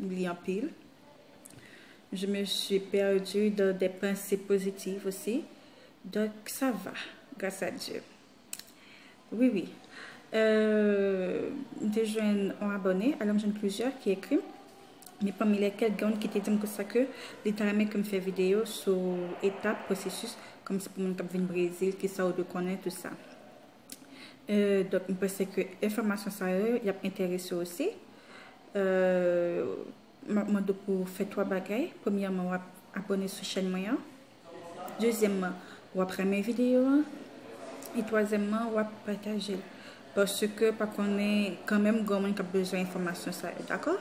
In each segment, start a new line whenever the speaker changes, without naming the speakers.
li anpil. Je me suis perdu dans des pensées positives aussi. Donc, ça va, grâce à Dieu. Oui, oui. Euh, m te jwenn an abone, alò m jwenn plizyè ki ekri m. Men pami lèkèl, gen yon ki te di m konsa ke li ta renmen ke m fè videyo sou etap, pwosesis, kòmsi pou moun k ap vin Brezil, kisa ou dwe konnen, tout sa. Donk m panse ke enfòmasyon sa yo y ap enterese w osi. M ap mande w pou w fè 3 bagay. Premyèman, w ap abòne sou chèn mwen an. Dezyèmman, w ap renmen videyo an. E twazyèmman, w ap pataje l. Paske pa konnen kanmenm gen yon moun k ap bezwen enfòmasyon sa yo. Dakò?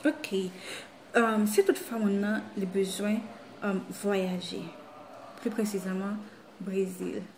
Ok. Si tout fwa moun nan li bezwen vwayaje. Pli presizèman, Brezil.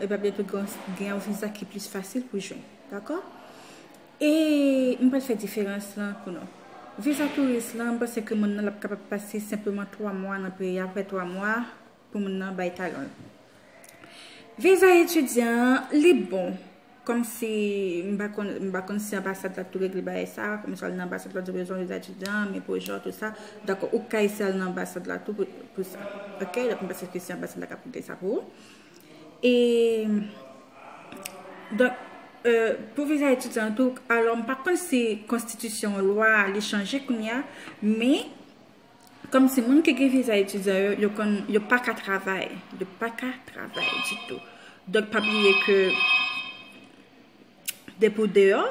e pa byentou gen yon viza ki plis fasil pou jwenn. Dakò? E m pral fè diferans lan pou nou. Viza touris lan, m panse ke moun nan l ap kapab pase senpleman 3 mwa nan peyi a, apre 3 mwa pou moun nan bay talon l. Viza etidyan an, li bon. Kòmsi m pa konn, m pa konn si anbasad la tou regle bagay sa, kòmsi w al nan anbasad la di w bezwen viza etidyan, men pou jan, tout sa, dakò ou ka eseye al nan anbasad la tou pou sa. Ok, dap m pase ke se anbasad la kap regle sa pou ou. E, donk, pou viza etidyan an tou, alò m pa konn si konstitisyon lwa li chanje kounya, men. Kòm si moun ki gen viza etidyan yo, yo konn, yo pa ka travay. Yo pa ka travay ditou. Donk pa bliye ke depi ou deyò,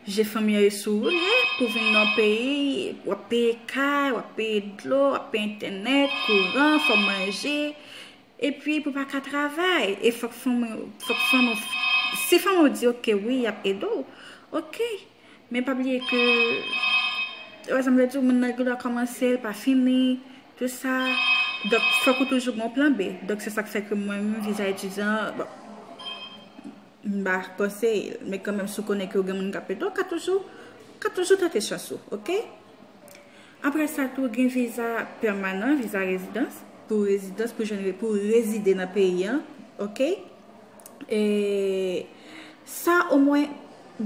je fanmi yo sou ou ye, pou vin nan yon peyi, wap peye kay, wap peye dlo, wap peye entènèt, kouran, fò manje. E pi pou pa ka travay. E fòk fanmi, fòk fanmi, si fanmi ou di ok wi, yap ede ou, ok. Men pa bliye ke Ou wè sa m vle di w moun nan gendwa kòmanse l pa fini tout sa Donk fòk ou toujou gen yon plan B Donk se sa k fè ke mwen menm viza etidyan bon m pa konseye l men kanmenm si w konnen ke w gen moun k ap ede w ka toujou ka toujou tante chans ou ok. Apre sa tou gen viza pèmanan, viza rezidans. Pou rezidans, pou jwenn, pou rezide nan peyi an. Ok. E sa o mwen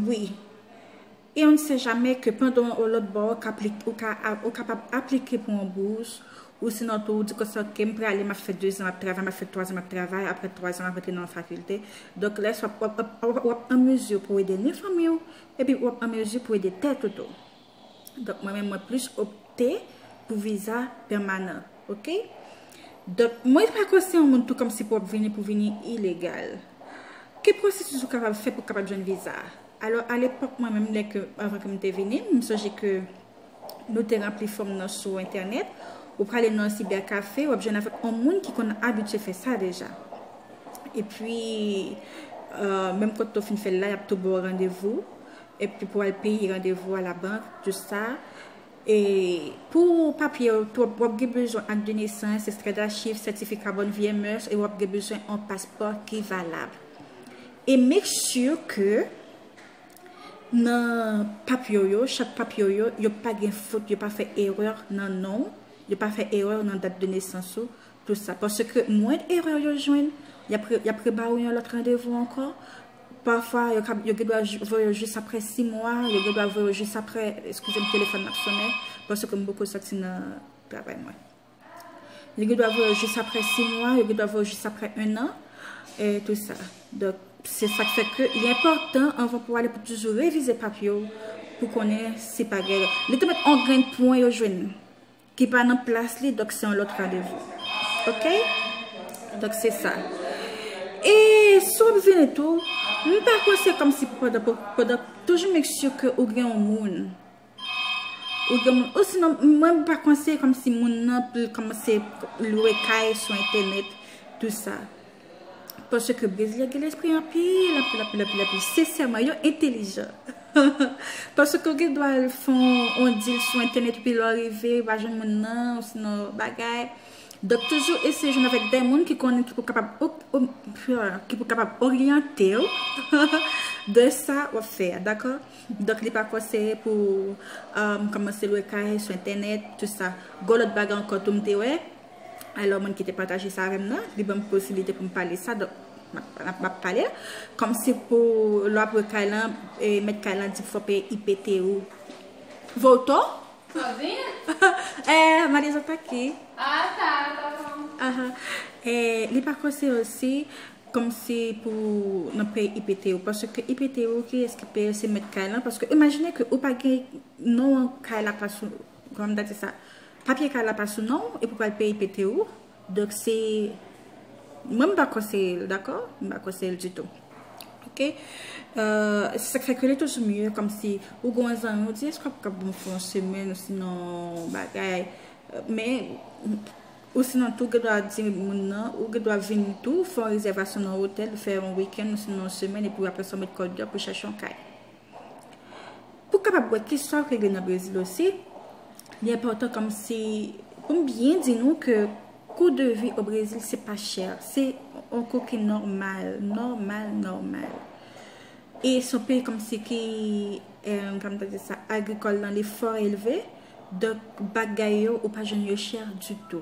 wi. E on ne sait jamais ke pandan w lòt bò ou ka ou kapab aplike pou on bous ou sinon tou ou di konsa ke m prale m ap fè 2 zan m ap travay m ap fè 3 zan m ap travay apre 3 zan m ap rantre nan yon fakilte. Donk lè sa w ap an mezi pou w ede ni fanmi w epi w ap an mezi pou w ede tèt ou tou. Donk mwen menm mwen plis opte pou viza pèmanan. Ok? Donk mwen pa konsidere yon moun tou kòmsi pou w ap vini pou vini ilegal. Ki pwosesis ou kapab fè pou w kapab jwenn viza? Alò alepòk mwen menm lè ke, anvan ke m te vini, m sonje ke nou te ranpli fòm nan sou entènèt. Ou prale nan yon sibèkafe, w ap jwenn avèk yon moun ki konn abitye fè sa deja. Epi, menm kote ou fin fè l la, y ap tou ba w randevou. epi pou al peye randevou a labank just sa e pou papye yo tou wap gen bezwen ak de nesans, ekstrè dachiv, sètifika bòn vyè mès e wap gen bezwen yon paspò ki valab e make sure ke nan papye w yo chak papye w yo yo pa gen fot yo pa fè erè nan non w yo pa fè erè nan dat de nesans ou tout sa paske mwend erè yo jwenn yap rebaw yon lòt randevou ankò. Pafwa, yo gen dwa voye yo jis apre 6 mwa, yo gen dwa voye yo jis apre, eskize m telefòn m ap sonnen, paske m poko sòti nan travay mwen. Yo gen dwa voye yo jis apre 6 mwa, yo gen dwa voye yo jis apre 1 an, e tout sa. Donk, se sa k fè ke li enpòtan anvan pou ale pou toujou revize papye w, pou konnen si pa gen. Li te met 1 grenn pwen yo jwenn. Ki pa nan plas li donk se yon lòt randevou ok donk se sa e si wap vini tou m pa kwè se kòmsi pandan toujou make sure ke ou gen yon moun ou gen moun osinon mwen m pa konseye kòmsi moun nan pou l kòmanse lwe kay sou entènèt tou sa. Paske brezilyen gen lespri anpil, anpil, anpil, anpil, anpil. Sensèman, yo entelijan. Paske ou gen dwa al fè yon dil sou entènèt epi lè w rive, ou pa jwenn moun nan, osinon bagay. Donk toujou eseye jwenn avèk dè moun ki konnen, ki pou kapab, ki pou kapab oryante w de sa w ap fè a, dakò? Donk li pa konseye pou kòmanse lwe kay sou entènèt, tout sa. Gwo lòt bagay ankò tou m te wè. I love moun ki te pataje sa avèm nan, li banm posibilite poum pale sa donk map pale l, kòmsi pou lè wap lwe kay lan mèt kay lan di fò peye IPT ou Voltor?
Eeh madanm sa pa ki? Li pa
konseye osi kòmsi pou nan peye IPT ou paske IPT ou kiyès ki peye l se mèt kay lan paske imajine ke ou pa gen non an kay la pa sou Kòman m ta di sa? Papye kay la pa sou non w epi w pral peye pete ou. Donk se mwen m pa konseye l dakò, m pa konseye l ditou. Ok. Se sa k fè ke li toujou mye kòmsi ou gen yon zanmi ou di èske w ap kapab pou yon semèn osinon yon bagay men osinon tou gen dwa di moun nan ou gen dwa vin tou fè yon rezèvasyon nan yon otèl fè yon wikèn osinon yon semèn epi aprè sa w met kòd yo pou chache yon kay. Pou w kapab wè ki sa k regle nan Brezil osi, li enpòtan kòmsi pou m byen di nou ke kou de vi o Brezil se pa chè, se yon kou ki nòmal, nòmal, nòmal. E se yon peyi kòmsi ki, kòman m ta di sa, agrikòl nan li fò elve, donk bagay yo ou pa jwenn yo chè ditou.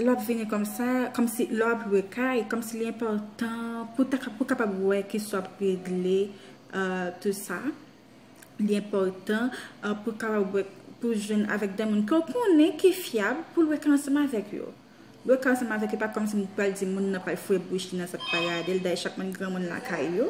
Lè w ap vini kòm sa, kòm si lè w ap lwe kay, kòm si li enpòtan pou ta pou kapab wè ki sa w ap regle tout sa. Li enpòtan pou kapab wè pou w jwenn avèk de moun ke w konnen ki fyab pou lwe kay ansanm avèk yo. Lwe kay ansanm avèk yo pa kòm si m pral di moun nan pral fwe bouch li nan sa pou pa gade l dayè chak moun gen moun lakay yo.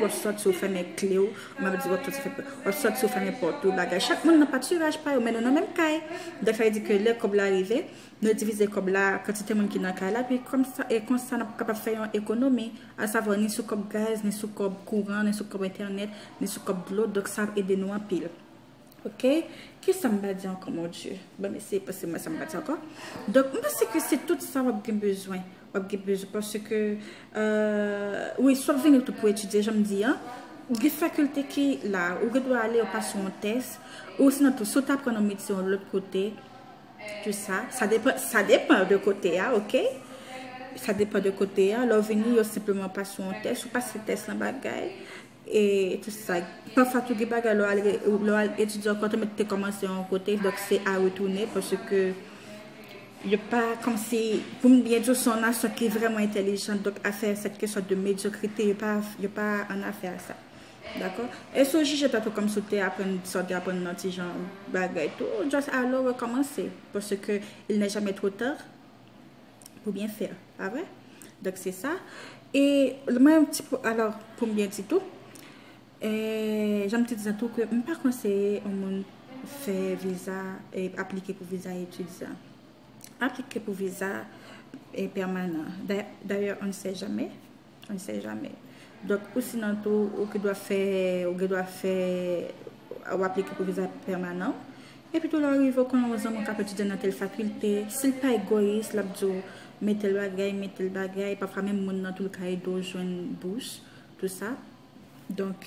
Wap sòti ou fèmen kle ou, map di wap sòti fè pè. Wap sòti ou fèmen pòt ou, bagay. Chak moun nan patiraj pa yo, men nou nan menm kay. Dèfè yo di ke lè kòb la rive, nou divize kòb la, kantite moun ki nan kay la, pi kòm sa, e konsa nap kapab fè yon ekonomi, a savwa ni sou kòb gaz, ni sou kòb kouran, ni sou kòb entènèt, ni sou kòb dlo, donk sa ap ede nou anpil. Ok kisa m pa di ankò mon Dye bon eseye panse mwen sa m pa di ankò donk m panse ke se tout sa wap gen bezwen wap gen bezwen paske euh wi si wap vini tou pou etidye jan m di an gen fakilte ki la ou gen dwa ale ou pase yon tès ou sinon tou si w ta pran yon metye yon lòt kote tout sa sa depan sa depan de kote a ok sa depan de kote a lè w vini yo senpleman pase yon tès ou pase tès lan bagay E tout sa. Pafwa tou gen bagay lè w al etidye ankò tèlman ou te kòmanse yon kote, donk se a retounen paske yo pa kòmsi, pou m byen di w se yon nasyon ki vrèman entèlijan donk afè sa ki kesyon de medyokrite yo pa an afè ak sa. Dakò? E si w jije tèt ou kòmsi w te aprann sa w te aprann nan ti jan bagay tou, just ale w rekòmanse paske il nè jamè two ta. Pou byen fè l. Pa vre? Donk se sa. E mwen yon ti pou alò pou m byen di tou. E jan m te di sa tou ke m pa konseye yon moun fè viza e aplike pou viza etidyan. Aplike pou viza e pèmanan. Dayè on ne sè jamè. On sait jamais. Donk ou sinon tou ou ki dwa fè, ou gen dwa fè, ou aplike pou viza pèmanan. Epi tou lè ou rive ou konnen yon zanmi ou kap etidye nan tel fakilte, si l pa egoyis lap di ou met tel bagay, met tel bagay, pafwa menm moun nan tou li ka ede ou jwenn bous, tou sa. Donk.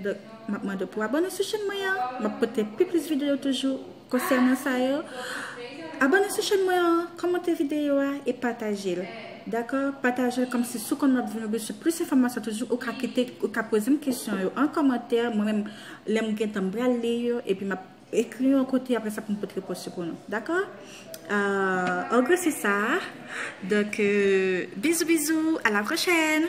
Donk map mande w pou abone sou chèn mwen an, map pote pi plis videyo toujou konsènan sa yo. Abone sou chèn mwen an, kòmante videyo a e pataje l. Dakò, pataje l kòmsi si w konn map vini sou plis enfòmasyon toujou ou ka kite ou ka poze m kesyon yo an kòmantè, mwen menm lè m gentan m pral li yo epi map ekri yon kote aprè sa pou m pot repons yo pou nou. Dakò? An gwo se sa. Donk bizou bizou, a la pwochèn.